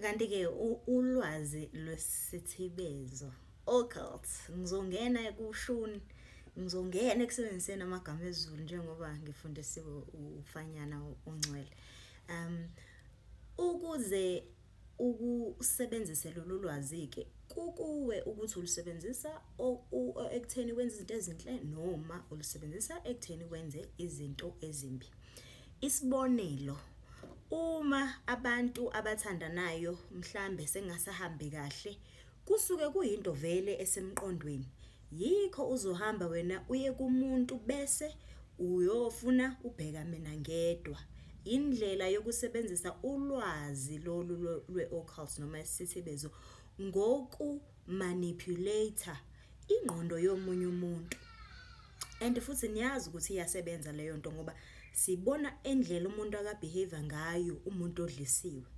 kanti-ke ulwazi lwesithibezo occult ngizongena ekushuni ngizongena ekusebenziseni amagama ezulu njengoba ngifundisiwe ufanyana ongcwele um ukuze ukusebenzise lolu lwazi-ke kukuwe ukuthi ulusebenzisa ekutheni wenze izinto ezinhle noma ulusebenzisa ekutheni wenze izinto ezimbi Isibonelo, uma abantu abathandanayo mhlambe sengasahambi kahle kusuke kuyinto vele esemqondweni yikho uzohamba wena uye kumuntu bese uyofuna ubheka mina ngedwa. Indlela yokusebenzisa ulwazi lolu lwe-occult noma isithibezo ngoku-manipulate ingqondo yomunye umuntu. and futhi niyazi ukuthi iyasebenza leyo nto ngoba sibona endlela umuntu akabehave ngayo umuntu odlisiwe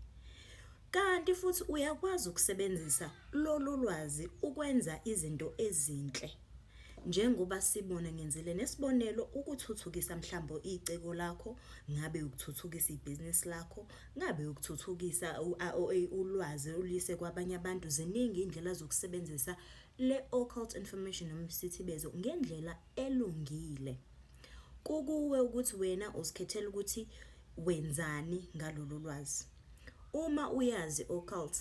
kanti futhi uyakwazi ukusebenzisa lolu lwazi ukwenza izinto ezinhle njengoba sibona ngenzile nesibonelo ukuthuthukisa mhlawumbe iciko lakho ngabe ukuthuthukisa ibhizinisi lakho ngabe ukuthuthukisa ulwazi olise kwabanye abantu ziningi indlela zokusebenzisa le occult information noma isithibezo ngendlela elungile kukuwe ukuthi wena uzikhethela ukuthi wenzani ngalolu lwazi uma uyazi occult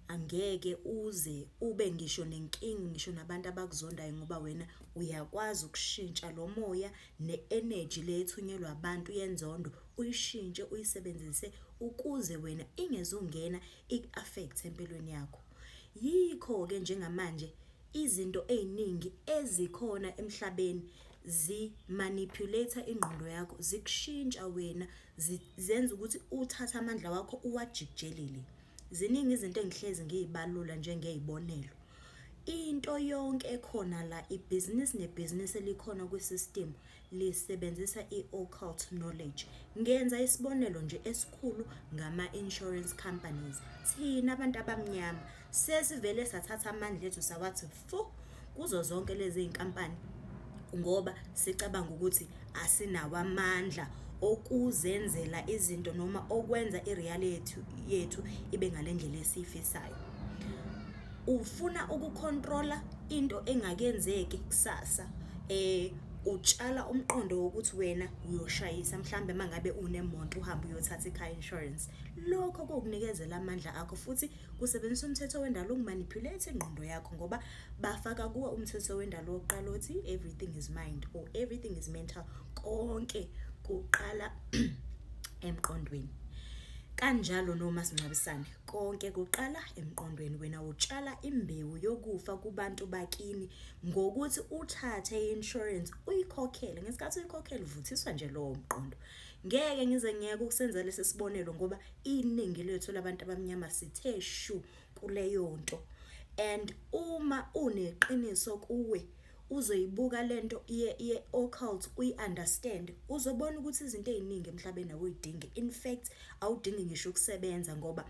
angeke uze ube ngisho nenkingi ngisho nabantu abakuzondayo ngoba wena uyakwazi ukushintsha lo moya ne-energy le ethunyelwa abantu yenzondo uyishintshe uyisebenzise ukuze wena ingezungena iku-affect empilweni yakho. Yikho-ke njengamanje izinto ey'ningi ezikhona emhlabeni zi-manipulate-a ingqondo yakho, zikushintsha wena, zenza ukuthi uthathe amandla wakho uwajikijelele. Ziningi izinto engihlezi ngiy'balula njengey'bonelo. Into yonke ekhona la, ibhizinisi nebhizinisi elikhona kwi-system lisebenzisa i-occult knowledge. Ngenza isibonelo nje esikhulu ngama-insurance companies. Thina abantu abamnyama sesivele sathatha amandla ethu sawathi fu kuzo zonke lezi iy'nkampani ngoba sicabanga ukuthi asinawo amandla okuzenzela izinto noma okwenza i-reality yethu ibe ngale ndlela esiyifisayo. Ufuna ukukhontrola into engakenzeki kusasa eh utshala umqondo wokuthi wena uyoshayisa mhlambe mangabe unemonto uhamba uyothatha icar insurance lokho kokunikezela amandla akho futhi kusebenzisa umthetho wendalo ukumanipulate ingqondo yakho ngoba bafaka kuwe umthetho wendalo wokuqala othi everything is mind or everything is mental konke kuqala emqondweni kanjalo noma sincabisane Konke kuqala emqondweni wena utshala imbewu yokufa kubantu bakini ngokuthi uthathe i-insurance uyikhokhele ngesikhathi uyikhokhele uvuthiswa nje lowo mqondo ngeke ngize ngiyeke ukusenza lesi sibonelo ngoba iningi lethu labantu abamnyama sithe shu kuleyo nto and uma uneqiniso kuwe uzoyibuka lento ye ye occult uyi understand uzobona ukuthi izinto eziningi emhlabeni awuyidingi in fact awudingi ngisho ukusebenza ngoba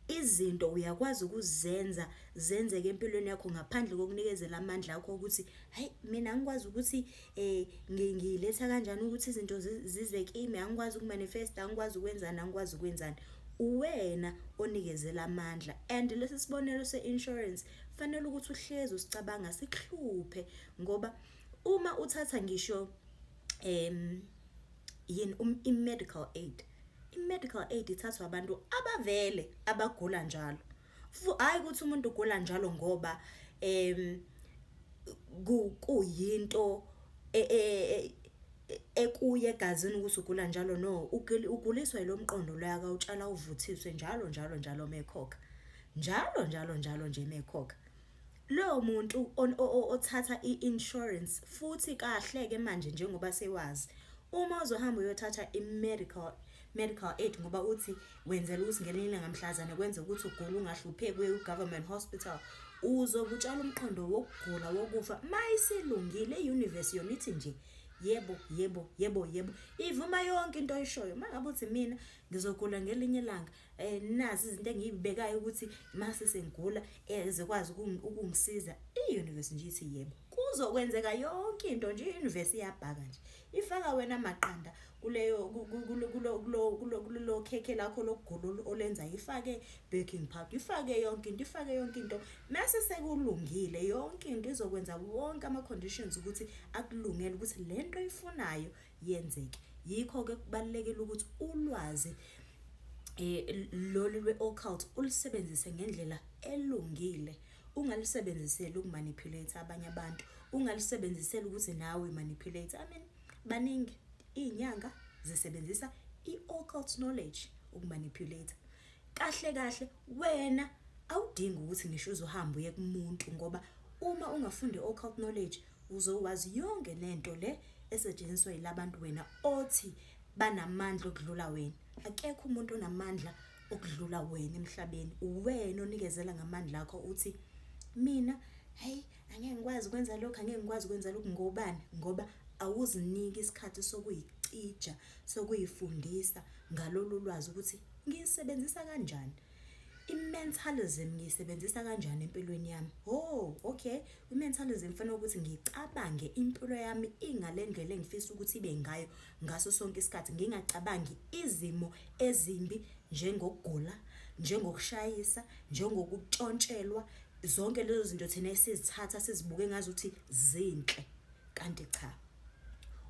izinto uyakwazi ukuzenza zenzeke empilweni yakho ngaphandle kokunikezela amandla akho ukuthi hayi mina angikwazi ukuthi eh ngiletha kanjani ukuthi izinto zize kimi angikwazi ukumanifesta angikwazi ukwenzana angikwazi ukwenzana uwena onikezela amandla and lesi sibonelo seinsurance Fanele ukuthi uhlezi usicabanga sikuhluphe ngoba uma uthatha ngisho em yini um, i-medical aid i-medical aid ithathwa abantu abavele abagula njalo hayi ukuthi umuntu ugula njalo ngoba em kuyinto e, e, e, ekuye egazini ukuthi ugula njalo no uguliswa ilomqondo loyaka utshela uvuthiswe njalo njalo njalo mekhokha njalo njalo njalo nje mekhokha lowo muntu othatha i-insurance futhi kahle-ke manje njengoba sewazi uma uzohamba uyothatha i-medical medical aid ngoba uthi wenzela ukuthi ngelinye ilanga mhlazane kwenze ukuthi ugule ungahlupheki uye ku-government hospital uzokutshala umqondo wokugula wokufa ma isilungile i-universe yona ithi nje yebo yebo yebo yebo ivuma yonke into oyishoyo uma ngabe uthi mina ngizogula ngelinye ilanga eh nazi izinto engiyibekayo ukuthi mase sengigula eh, ezokwazi ukungisiza i-universe nje ithi yebo kuzokwenzeka yonke into nje i-universe iyabhaka nje ifaka wena maqanda kuleyo kulo khekhe lakho lokugula olenza ifake baking powder ifake yonke into ifake yonke into mase sekulungile yonke into izokwenza wonke ama conditions ukuthi akulungele ukuthi lento ifunayo yenzeke yikho ke kubalekile ukuthi ulwazi eh lolu lwe-occult ulisebenzise ngendlela elungile ungalisebenziseli ukumanipulate abanye abantu ungalisebenziseli ukuthi nawe manipulate i mean baningi iy'nyanga zisebenzisa i-occult knowledge ukumanipulate kahle kahle wena awudingi ukuthi ngisho uzohamba uye kumuntu ngoba uma ungafunde occult knowledge Uzokwazi yonke lento le esetshenziswa yilabantu wena othi banamandla okudlula wena. Akekho umuntu onamandla okudlula wena emhlabeni. Uwena onikezela ngamandla akho uthi mina hey angeke ngikwazi ukwenza lokho angeke ngikwazi ukwenza lokho ngobani ngoba awuziniki isikhathi sokuyicija sokuyifundisa ngalolu lwazi ukuthi ngisebenzisa kanjani. I-mentalism ngiyisebenzisa kanjani empilweni yami? Oh, okay. I-mentalism kufanele ukuthi ngicabange impilo yami ingale ndlela engifisa ukuthi ibe ngayo ngaso sonke isikhathi, ngingacabangi izimo ezimbi njengokugula, njengokushayisa, njengokutshontshelwa, zonke lezo zinto thina esizithatha sizibuke ngazuthi zinhle kanti cha.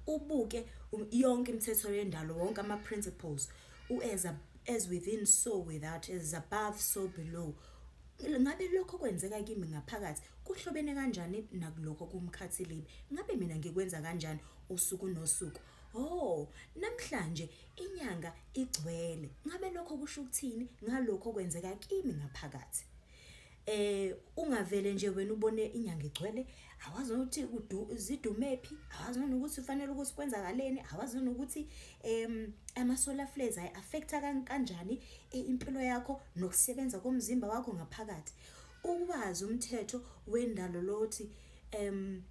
Ubuke yonke imithetho yendalo, wonke ama-principles. U-as ab- as within so without, as above so below. Ngabe lokho okwenzeka kimi ngaphakathi kuhlobene kanjani nakulokho kumkhathilibe? Ngabe mina ngikwenza kanjani usuku nosuku? Oh, namhlanje inyanga igcwele. Ngabe lokho kusho ukuthini ngalokho okwenzeka kimi ngaphakathi? eh ungavele nje wena ubone inyanga igcwele awazi ukuthi zidumephi awazi nokuthi ufanele ukuthi kwenzakaleni awazi nokuthi em ama solar flares ay affecta kanjani eh, impilo yakho nokusebenza komzimba wakho ngaphakathi ukwazi umthetho wendalo lothi em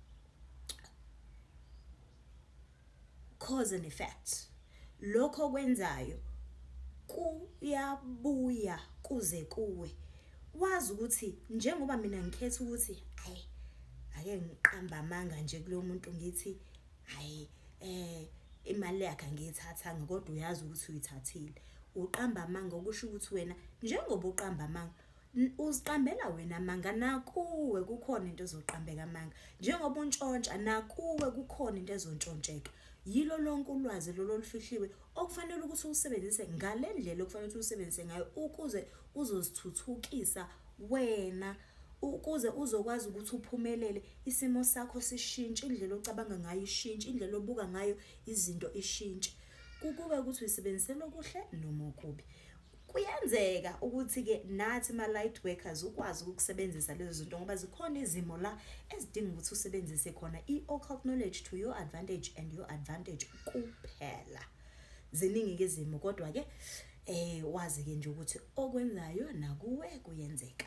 cause and effect lokho okwenzayo kuyabuya kuze kuwe wazi ukuthi njengoba mina ngikhetha ukuthi hayi ake ngiqamba amanga nje kulo muntu ngithi hayi eh imali yakhe angiyithathanga kodwa uyazi ukuthi uyithathile uqamba amanga okusho ukuthi wena njengoba uqamba amanga uziqambela wena amanga nakuwe kukhona into ezoqambeka amanga njengoba untshontsha nakuwe kukhona into ezontshontsheka yilo lonke ulwazi lolo olufihliwe okufanele ukuthi ulusebenzise ngale ndlela okufanele ukuthi ulusebenzise ngayo ukuze uzozithuthukisa wena ukuze uzokwazi ukuthi uphumelele isimo sakho sishintshe indlela ocabanga ngayo ishintshe indlela obuka ngayo izinto ishintshe kukube ukuthi uyisebenzisela okuhle noma okubi Kuyenzeka ukuthi-ke nathi ma-light workers ukwazi ukusebenzisa lezo zinto ngoba zikhona izimo la ezidinga ukuthi usebenzise khona i-occult knowledge to your advantage and your advantage kuphela ziningi-ke izimo kodwa-ke um wazi-ke nje ukuthi okwenzayo nakuwe kuyenzeka